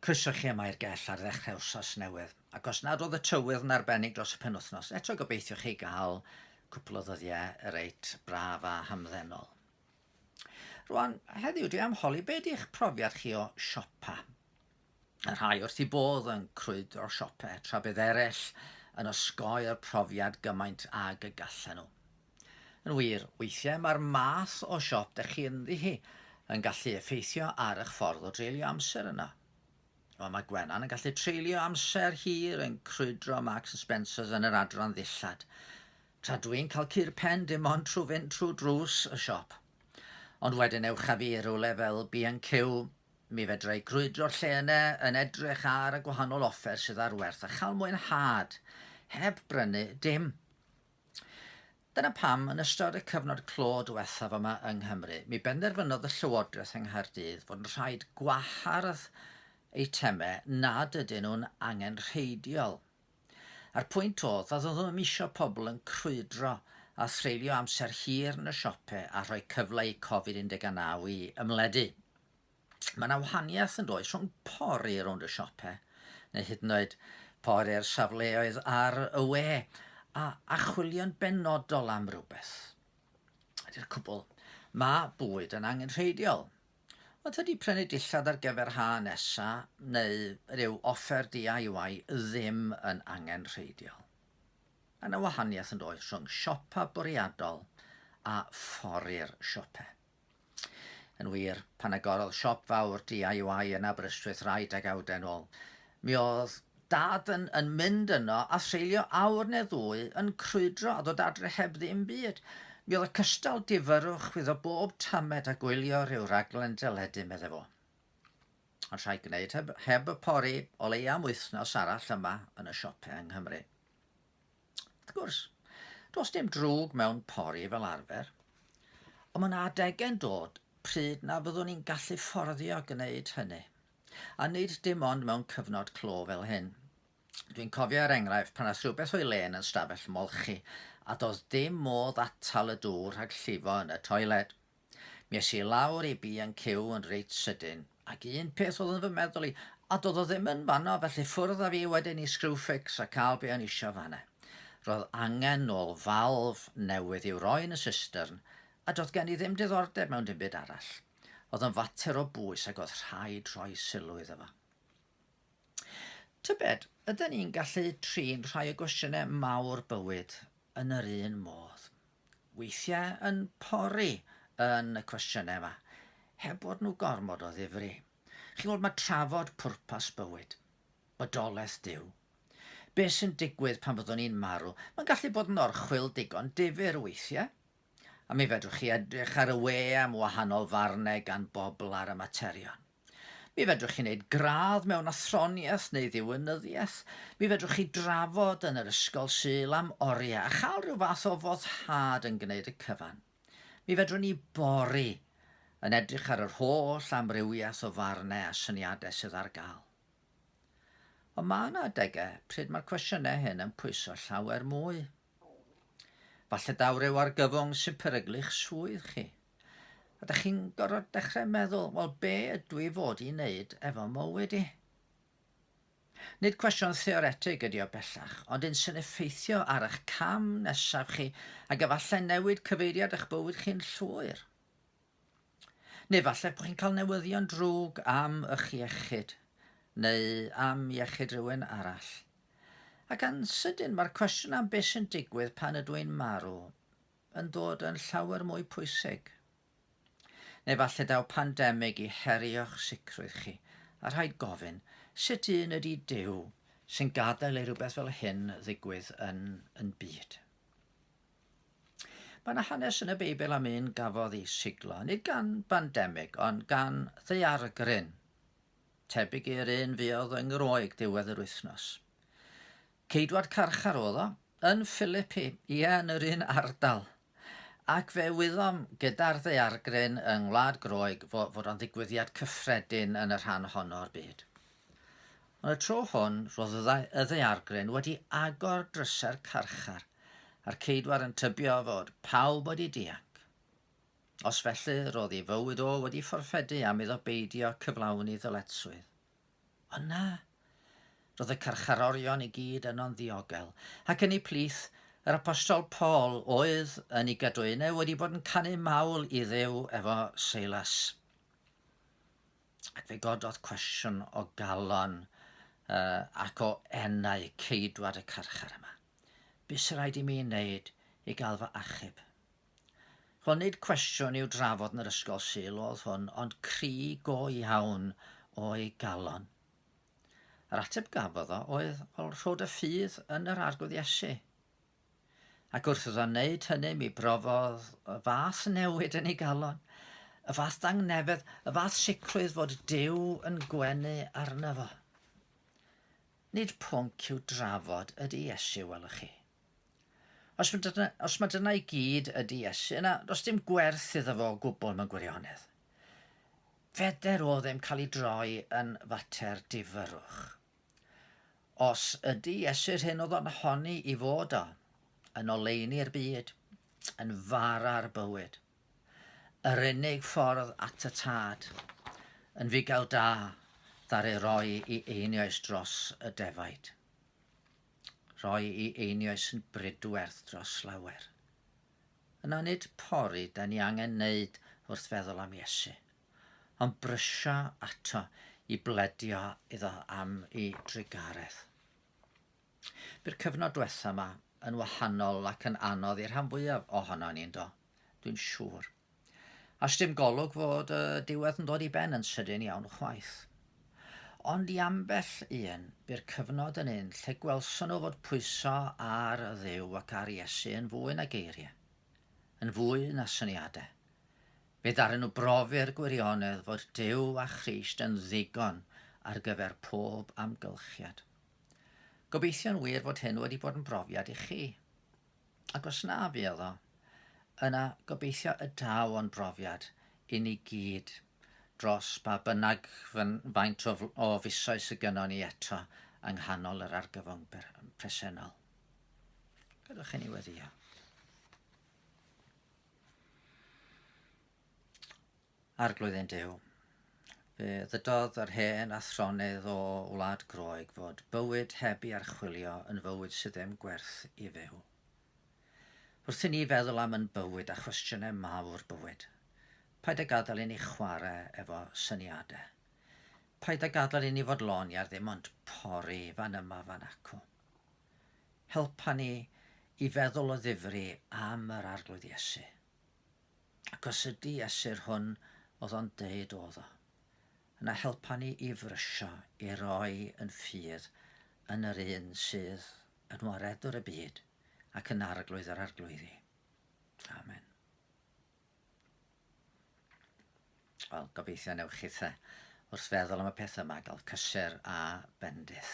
Croeso chi yma i'r gell ar ddechrau wsos newydd, ac os nad oedd y tywydd yn arbennig dros y penwythnos, eto gobeithio chi gael cwpl o ddyddiau reit braf a hamddenol. Rwan, heddiw dwi am holi be di'ch profiad chi o siopa. Y rhai wrth i bodd yn crwyd o'r siope, tra bydd eraill yn osgoi'r profiad gymaint ag y gallen nhw. Yn wir, weithiau mae'r math o siop dych chi ynddi hi yn gallu effeithio ar eich ffordd o dreulio amser yno. Wel, mae Gwenan yn gallu treulio amser hir yn crwydro Marks and Spencers yn yr adran ddillad, tra dwi'n cael cur pen dim ond trwy fynd trwy drws y siop. Ond wedyn ewch â fi i rywle fel B&Q, mi fedra i grwydro'r lle yna yn edrych ar y gwahanol offer sydd ar werth a chael mwynhad, heb brynu dim. Dyna pam, yn ystod y cyfnod clo diwethaf yma yng Nghymru, mi benderfynodd y Llywodraeth yng Nghaerdydd fod yn rhaid gwahardd eitemau nad ydyn nhw'n angenrheidiol. A'r pwynt oedd, nad oeddwn ddim eisiau pobl yn crwydro a threulio amser hir yn y siopau a rhoi cyfle i Covid 19 i ymledu. Mae yna wahaniaeth yn does rhwng pori rownd y siope, neu hyd yn oed pori'r safleoedd ar y we, a archwilio'n benodol am rywbeth. Ydy'r cwbl, mae bwyd yn angenrheidiol. Ond tydi prynu dillad ar gyfer ha nesa neu ryw offer DIY ddim yn angenrheidiol. Mae yna wahaniaeth yn does rhwng siopa bwriadol a phori'r siope. Yn wir, pan agorodd siop fawr DIY yn Aberystwyth rai degawdau yn ôl, mi oedd Dad yn, yn mynd yno a seilio awr neu ddwy yn crwydro a ddod adre heb ddim byd. Mi oedd y cystal difyrrwch chwyddo bob tamed a gwylio rhyw raglen deledu, meddai fo. Ond rhaid gwneud heb, heb y pori o leia am wythnos arall yma yn y siopau yng Nghymru. Wrth gwrs, does dim drwg mewn pori fel arfer, ond mae'n adegau'n dod pryd na fyddwn ni'n gallu fforddio gwneud hynny. A nid dim ond mewn cyfnod clo fel hyn. Dwi'n cofio er enghraifft pan ath rhywbeth o'i le yn yn stafell molchi a doedd dim modd atal y dŵr rhag llifo yn y toiled. Mi es i lawr i B and Q yn reit sydyn, ac un peth oedd yn fy meddwl i, a doedd o ddim yn fanno, felly ffwrdd a fi wedyn i Screwfix a cael be o'n isio fanna. Roedd angen nôl falf newydd i'w roi yn y systyrn, a doedd gen i ddim diddordeb mewn dim byd arall. Oedd yn fater o bwys ac oedd rhaid rhoi sylw iddo fo. Tybed, ydyn ni'n gallu trin rhai o gwestiynau mawr bywyd yn yr un modd? weithiau yn pori yn y cwestiynau yma, heb bod nhw gormod o ddifri. Chi'n gwybod, mae trafod pwrpas bywyd, bodolaeth Duw, beth sy'n digwydd pan fyddwn ni'n marw, mae'n gallu bod yn orchwyl digon difyr weithiau. A mi fedrwch chi edrych ar y we am wahanol farnau gan bobl ar y materion. Mi fedrwch chi wneud gradd mewn athroniaeth neu ddiwinyddiaeth. Mi fedrwch chi drafod yn yr Ysgol Sul am oriau a chael rhyw fath o foddhad yn gwneud y cyfan. Mi fedrwn ni bori yn edrych ar yr holl amrywiaeth o farnau a syniadau sydd ar gael. Ond mae yna adegau pryd mae'r cwestiynau hyn yn pwyso llawer mwy. Falle daw rhyw argyfwng sy'n peryglu'ch swydd chi. A da chi'n gorfod dechrau meddwl, wel be ydw i fod i wneud efo mywyd i? Nid cwestiwn theoretig ydy o bellach, ond un sy'n effeithio ar eich cam nesaf chi ac efallai newid cyfeiriad eich bywyd chi'n llwyr. Neu falle bod chi'n cael newyddion drwg am eich iechyd, neu am iechyd rhywun arall. Ac yn sydyn mae'r cwestiwn am beth sy'n digwydd pan ydw i'n marw yn dod yn llawer mwy pwysig. Neu falle daw pandemig i herio'ch sicrwydd chi, a rhaid gofyn, sut un ydy Duw sy'n gadael i rhywbeth fel hyn ddigwydd yn yn byd? Mae yna hanes yn y Beibl am un gafodd ei siglo, nid gan bandemig, ond gan ddaeargryn, tebyg i'r un fuodd yng Ngwroeg diwedd yr wythnos. Ceidwad carchar oedd o, yn Philippi, ie, yn yr un ardal. Ac fe wyddom gyda'r ddaeargryn yng Ngwlad Groeg fo- fod o'n ddigwyddiad cyffredin yn y rhan honno o'r byd. Ond y tro hwn, roedd y dda- y ddaeargryn wedi agor drysau'r carchar, a'r ceidwad yn tybio fod pawb wedi dianc. Os felly, roedd ei fywyd o wedi fforffedu am iddo beidio cyflawni ddyletswydd. Ond na. Roedd y carcharorion i gyd yno'n ddiogel, ac yn eu plith, yr apostol Paul oedd, yn ei gadwyne, wedi bod yn canu mawl i Dduw efo Seilas. Ac fe gododd cwestiwn o galon uh, ac o enau ceidwad y carchar yma. Beth sy'n rhaid i mi wneud i gael fy achub? Ch'o' nid cwestiwn i'w drafod yn yr ysgol Sul o'dd hwn, ond cri go iawn o'i galon. Yr ateb gafodd o oedd ol rhod y ffydd yn yr Arglwydd Iesu. Ac wrth iddo wneud hynny mi brofodd y fath newid yn ei galon, y fath dangnefedd, y fath sicrwydd fod Duw yn gwenu arno fo. Nid pwnc i'w drafod ydy Iesu, welwch chi. Os ma' dyna, os ma' dyna i gyd ydy Iesu, yna does dim gwerth iddo fo o gwbl mewn gwirionedd. Feder o ddim cael ei droi yn fater difyrrwch. Os ydy Iesu'r hyn oedd o'n honni i fod o, yn oleuni'r byd, yn fara'r bywyd, yr unig ffordd at y Tad, yn fugail da, ddaru roi i einioes dros y defaid. Rhoi i einioes yn bridwerth dros lawer. Yna nid pori da ni angen neud wrth feddwl am Iesu, ond brysio ato i bledio iddo am i drugaredd. Byr cyfnod dwetha ma yn wahanol ac yn anodd i'r rhan fwyaf ohono ni, yndo? Dwi'n siŵr. A sdim golwg fod y diwedd yn dod i ben yn sydyn iawn chwaith. Ond i ambell un, bu'r cyfnod yn un lle gwelson nhw fod pwyso ar Dduw ac ar Iesu yn fwy na geiriau, yn fwy na syniadau. Fe ddaru nhw brofi'r gwirionedd fod Duw a Christ yn ddigon ar gyfer pob amgylchiad. Gobeithio'n wir fod hyn wedi bod yn brofiad i chi. Ac os na fuodd o, yna gobeithio y daw o'n brofiad i ni gyd dros ba bynnag faint o o fisoedd sydd gynnon ni eto yng nghanol yr argyfwng presennol. Gadewch i ni weddio. Arglwydd ein Duw, fe ddydodd yr hen athronydd o Wlad Groeg fod bywyd heb i archwilio yn fywyd sydd ddim gwerth i fyw. Wrth i ni feddwl am yn bywyd a chwestiynau mawr bywyd, paid a gadael i ni chwarae efo syniadau. Paid a gadael i ni fod lon iar ddim ond pori fan yma fan acw. Helpa ni i feddwl o ddifri am yr Arglwydd Iesu. Ac os ydy Esir hwn oedd o'n deud oedd o, yna helpa ni i frysio, i roi yn ffydd yn yr un sydd yn waredwr y byd ac yn arglwydd yr arglwyddi. Amen. Wel, gobeithio newch chi the wrth feddwl am y peth yma gael cysur a bendith.